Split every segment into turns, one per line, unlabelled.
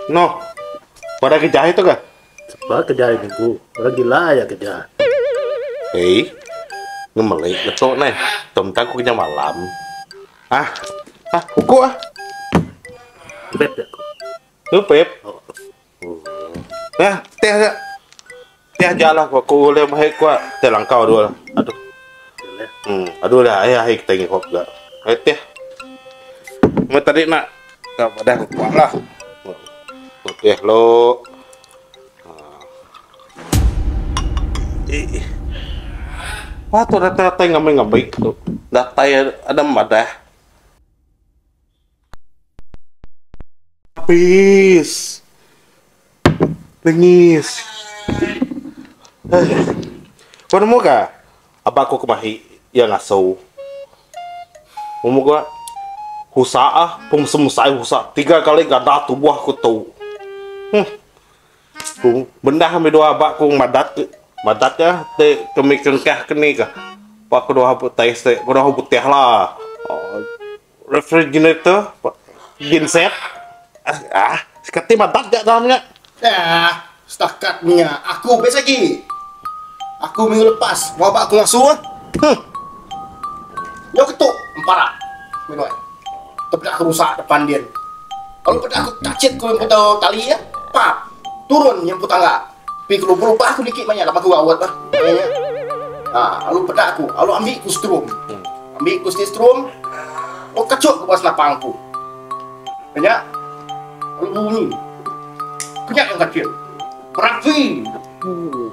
Noh. Pada ke jai tu ke? Sepa ke jai ni
ku. Orang gila aja ke jai. Hei.
Ngemeli ke tu neh. Tom tang ku kenyau malam. Ah. Ah, uku ah.
Beb ya ku. Nupep. Oh.
Nah, teh aja. Ti aja lah aku ulih mehek ku ti langkau dua lah. Aduh.
Hmm, aduh lah ai
ai kita ngi hop ga. Ai teh. Me tadi nak ka dah kuat lah. Teh lo. Wah tu rata-rata ngamai-ngamai tu. Datai ada madah. Apis. Nengis. Kau nemu ka? Aba aku ke mahi iya ngaso. Nemu ka? Husa ah. Pemesai mesai husa. Tiga kali ganda tubuh aku tu. Huh. Ku bendah ami dua aba ku madat ke. Madat ka ti kami ke engkah ke ni ka. Pak ke dua test te. Ku dua betih la. Refrigerator, genset, aaa, seketi madak ga dalam nya. Daa, setakat nya
aku best agi. Aku minggu lepas bawa ba ku ngasu ah. Huh. Nyau ke tu empara meh nuan. Tepeda aku rusak depan din. Lalu peda aku tachit ku lempu tali ah. Pap, turun nyempu tangga. Pi kelu berubah aku niki maya laban aku rawat bah. Ha, alu peda aku, alu ambi ku strum. Hmm. Ambi ku sti strum. Oh kacuk ku selapang aku. Kenya alu bunyi. Kenya yang kacil. Berapi. Hmm.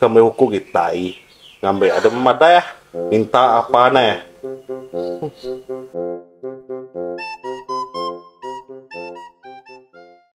Ke meh uku kitai ngambi ada memadah minta apa neh.